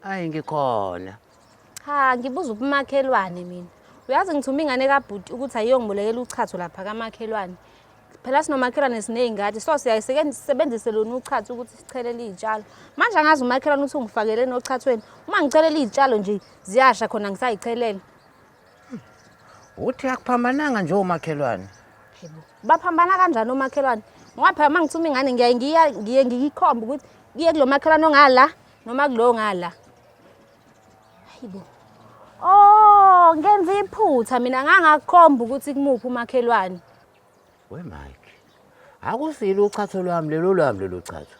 Hayi ngikhona. Cha ngibuza ubumakhelwane mina. Uyazi ngithuma ingane kabhuti ukuthi ayiyongibulekela uchazo lapha kamakhelwane. Phela sinomakhelwane siney'ngadi so siyayisebenzise lona uchazo ukuthi sichelele iy'tshalo. Manje angazi umakhelwane ukuthi ungifakeleni ochathweni. Uma ngichelela iy'tshalo nje ziyasha khona ngisayichelele. Uthi akuphambananga nje omakhelwane. Baphambana kanjani omakhelwane? Ngoba phela uma ngithuma ingane ngiyaye ngiya- ngiye ngiyikhombe ukuthi kuye kulo makhelwane ongala noma kulo ngala hayibo oh ngenza iphutha mina ngangakukhomba ukuthi kumuphi umakhelwane we mike akusile uchatho lwami lelo lwami lelo chatho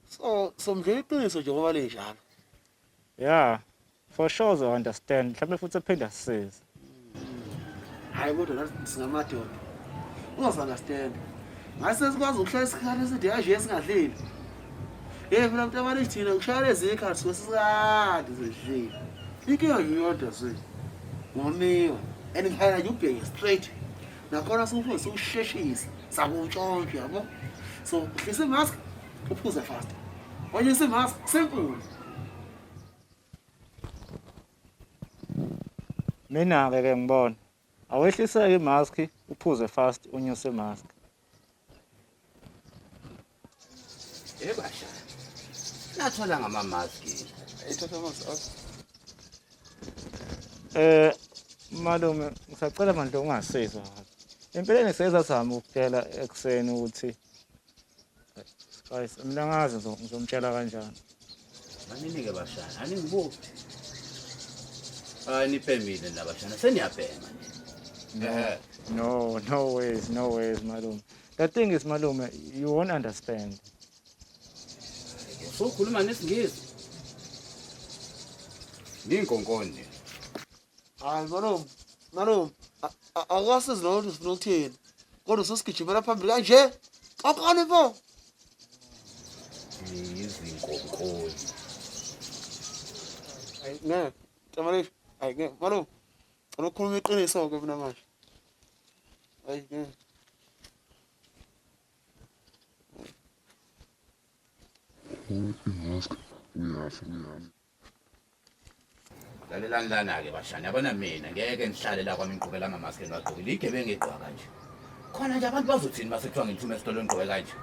so so mdlula iqiniso nje ngoba linjalo yeah for sure uzo understand mhlawumbe futhi ephinda sisize hayi kodwa nathi singamadoda uzozi understand ngathi sesikwazi ukuhlala isikhathi eside kanje esingadlile yeyi phela mntu abani thina kushaya lezi ikhathi suke sisikade zidlile inkinga yiyodwa zwe ngomiwe and ngihayela nje ubheke straight nakhona sifuna siwusheshise sakuntshontshe yabo so uhlise imask uphuze fast onye isimask simple mina-ke ke ngibona awehliseke imaski uphuze fast unyuse imaski Eh basha. Nathola ngama mask. Ithatha ama mask. Eh malume ngisacela manje ungasizwa. Empeleni seza sami ukutshela ekseni ukuthi guys mina ngazi ngizomtshela kanjani. Maninike bashana, aningibuki. Ah nipemile nabashana seniyabhema. No, no ways, no ways malume. The thing is malume, you won't understand. So khuluma nesingisi. Ninkonkonde. Hayi malume, malume, akasizi loo nto sifuna ukuthini. Kodwa sosigijimela phambili kanje. Qoqani bo. Izinkonkonde. Hayi ngeke. Tamarisha. Hayi ngeke. Malume. Cela ukhuluma iqiniso ke mina manje. Ayi ke. Uyafa, uyafa. lalelani lana-ke bashani yabona mina ngeke ngihlale la kwami ngiqhubela amamaski engiwagqokile igebengu egqoka kanje khona nje abantu bazothini uma sekuthiwa ngithuma esitolo ngigqoke kanje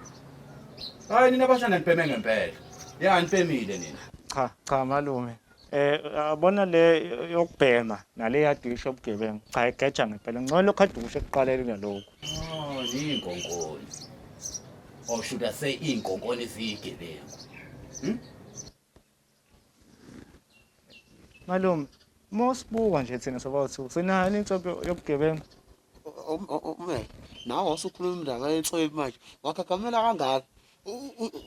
hhayi nina bashani anibheme ngempela ya nibhemile nina Cha, cha malume. Eh yabona le yokubhema nale yadisha ubugebengu. Cha igeja ngempela. Ngcono lokho adushe kuqalele kunalokho. Oh, iy'nkonkoni. Or oh, should I say iy'nkonkoni ziyigebengu. Hmm? Malume, mosibuka nje thina sobathu sinani inhlobo yobugebengu. Ume, nawe wasukhuluma indaba yenhlobo manje. Wakhagamela kangaka.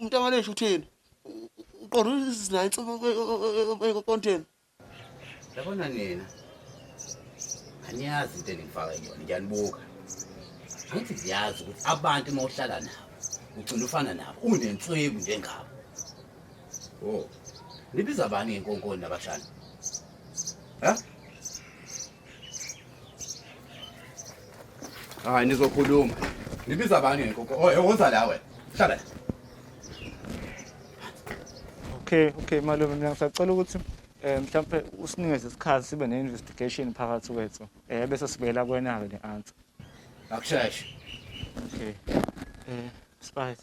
Umntamaleshu uthini? uqonda uzinayo insuku konteni yabona nina aniyazi into eningifaka yona ngiyanibuka angithi ziyazi ukuthi abantu uma uhlala nabo ugcina ufana nabo unentswebu njengabo o oh, nibiza bani ngenkonkoni nabashana ha hayi nizokhuluma ngibiza abanye ngekoko oye woza la wena hlala okay okay malume mina ngisacela ukuthi um mhlawumpe usinikeze isikhathi sibe ne-investigation phakathi kwethu um bese sibuyela kwena-ke ne-answer akusheshe okay um spice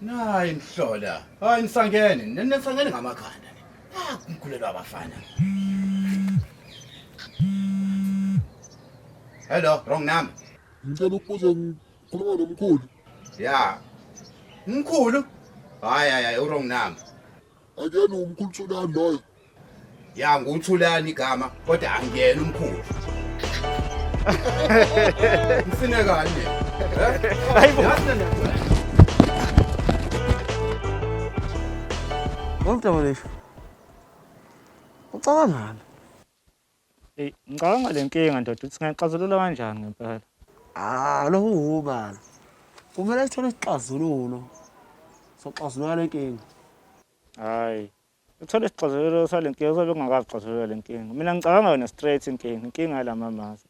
Nayi mhlola. Hayi nisangene, nisangene ngamakhanda. Ah, kumkhulelwa abafana. Hello, wrong number. Ngicela ukubuza ngikhuluma nomkhulu. Yeah. Mkhulu. Hayi hayi, u wrong number. Akuyena umkhulu Thulani loyo. Ya nguThulani igama kodwa angiyena umkhulu. Ngifine kanye. Hayibo. Ngomdaba lesho. Ucabangani? Hey, ngicabanga le nkinga ndoda ukuthi ngayixazulula kanjani ngempela. Ah, lo ubala. Kumele sithole isixazululo. Soxazulula le nkinga. Hayi. Uthole isixazululo sale nkinga uzobe ungakazi xazulula le nkinga. Mina ngicabanga yona straight inkinga, inkinga yalama mask.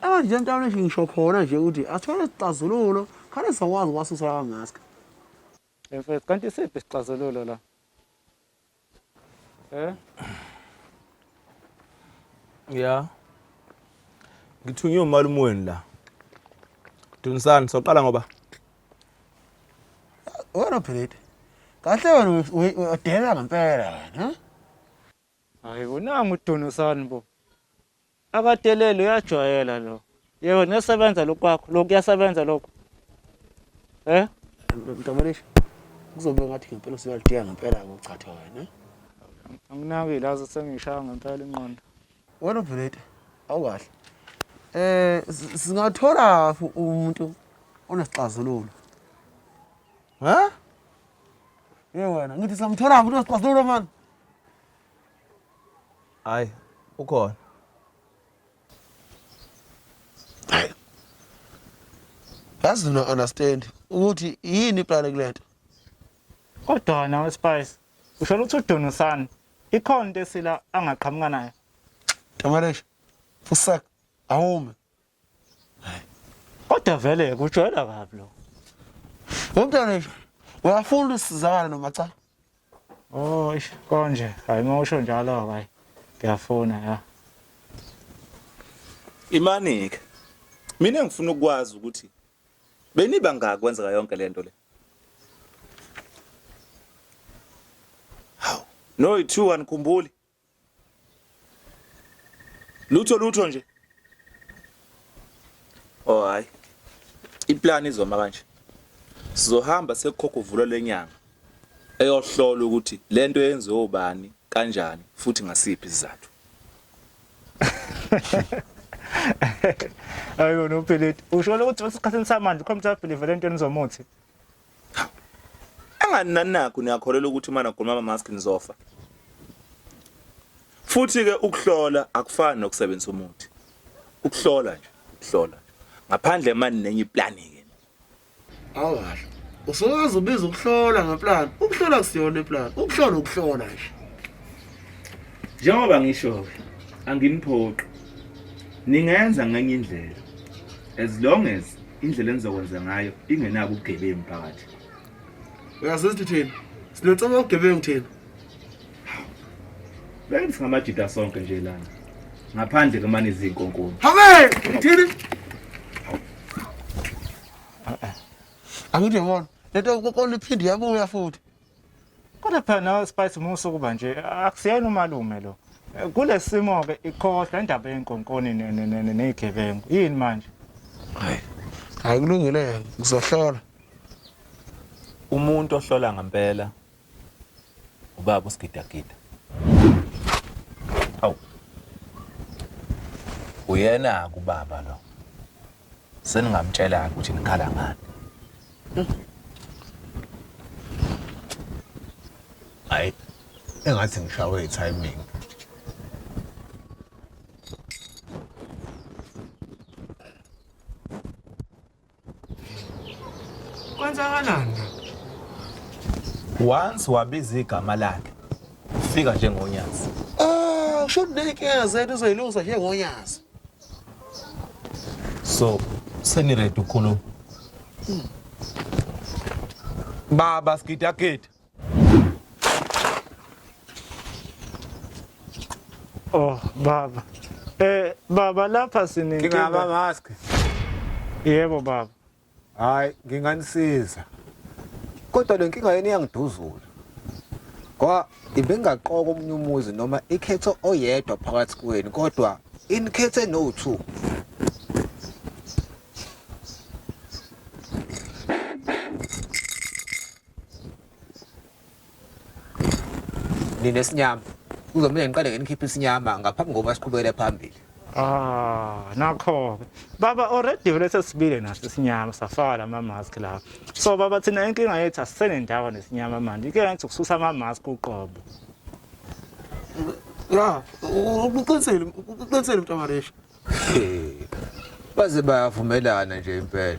Abantu nje mntwana nje ngisho khona nje ukuthi asithole isixazululo, khale sizokwazi ukwasusa lawa mask. Mfethu, kanti isiphi isixazululo la? Eh? Yeah. Ngithunywe umalume wenu la. Dunsani soqala ngoba. Wena Philip. Kahle wena udela ngempela wena. Hayi kunanga uDunsani bo. Akadeleli uyajwayela lo. Yebo nesebenza lokhu kwakho. Lokhu kuyasebenza lokhu. Eh? Mntamolisha. Kuzobe ngathi ngempela usuyalidinga ngempela ukuchatha wena. Anginakile aze sengishaya ngempela inqondo. Wena uVeleta awukahle. Eh singathola umuntu onesixazululo. Ha? Yewena ngithi samthola umuntu onesixazululo manje. Hayi, ukhona. Hayi. Yazi no understand ukuthi yini iplane kulento. Kodwa wena weSpice, usho ukuthi udonusani? Ikhona into esila angaqhamuka nayo. Tamaresh. Fusak awume. kodwa vele kujwayela kabi lo umntwana nje uyafuna usizakala noma cha oh ish konje hayi uma usho njalo hayi ngiyafuna ya imanike mina ngifuna ukwazi ukuthi beniba ngaki kwenzeka yonke lento le hawu no 2 anikhumbuli Lutho lutho nje. Oh hayi. Iplan izoma kanje. Sizohamba sekukhokha uvulo lenyanga. Eyohlola ukuthi lento yenziwe ubani kanjani futhi ngasiphi isizathu. Ayona uPhilip. Usho ukuthi usikhathini samanje uComfortable velento enizomuthi. Angani nanakho niyakholelwa ukuthi uma nagoma ama mask nizofa. Futhi ke ukuhlola akufani nokusebenzisa umuthi. Ukuhlola nje, ukuhlola. Ngaphandle manje nenye iplan ke. Awasho. Usowazi ubiza ukuhlola ngeplan. Ukuhlola kusiyona iplan. Ukuhlola ukuhlola nje. Njengoba ngisho anginiphoqi ningenza ngenye indlela as long as indlela enizokwenza ngayo ingenabo ubugebengu phakathi uyazi ukuthi thina sinotsoba ubugebengu thina beke singamajida sonke nje lana ngaphandle kemane izinkonkoni habe thini angithi yabona lento konkoni iphinde yabuya futhi Kodwa phela nawe Spice musa ukuba nje akusiyena umalume lo. Kulesimo ke ikhohla indaba yenkonkoni nezigebengu. Yini manje? Hayi. Hayi kulungile yena ngizohlola. Umuntu ohlola ngempela ubaba usigidagida. Awu. Uyena kubaba lo. seningamtshela-ke ukuthi nikhala ngani hayi engathi ngishawe i-timing kwenzakalani once wabiza igama lakhe ufika njengonyazi Ah, usho ukuthi nenkinga zethu uzoyilungisa njengonyazi so seniready ukukhuluma baba sigidagida Oh baba. Eh baba lapha sininkinga. Ngingaba mask. Yebo baba. Hayi nginganisiza. Kodwa le nkinga yenu iyangiduzula. Ngoba ibengaqoka omunye umuzi noma ikhetho oyedwa phakathi kwenu kodwa inikhethe no two. nina esinyama kuzomele ngiqale ngenikhiphe isinyama ngaphambi kokuba siqhubekele phambili Ah, nakho-ke baba already vele sesibile naso isinyama safaka lama-mask lapho so baba thina inkinga yethu asisenendawo nesinyama manje inkinga yethu ukususa ama-mask uqobo ya uqinisile uqinisile mntu amaresha baze bayavumelana nje impela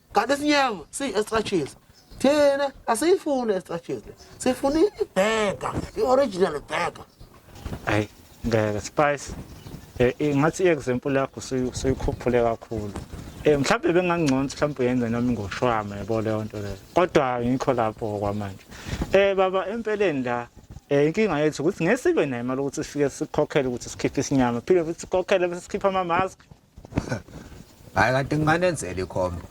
kanti isinyama siyi-extra cheese thina asiyifuni i-extra cheese le sifuna ibhega i-original bhega hayi ngeke spice eh, eh, ngathi i-example yakho suyikhuphule kakhulu um mhlawumbe bengangcono ukuthi mhlawumbe uyenze noma ingoshwama yabo leyo nto leyo kodwa ngikho lapho kwamanje um baba empeleni la Eh inkinga yethu ukuthi ngesibe nayo imali ukuthi sifike sikhokhele ukuthi sikhiphe isinyama phinde futhi sikhokhele bese sikhipha ama mask hayi kanti nginganenzela ikhombo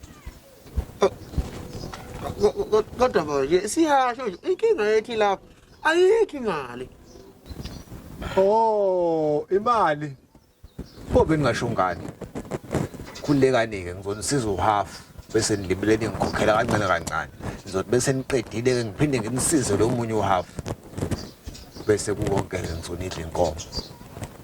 kodwa manje siyasho nje inkinga yethi lapho ayikho imali oh imali pho bengingasho ngani khulekani-ke ngizonisiza uhafu bese nilibele ningikhokhela kancane kancane ngizothi bese niqedile-ke ngiphinde ngimsize lo munye uhafu bese kukonke-ke ngizonidla inkomo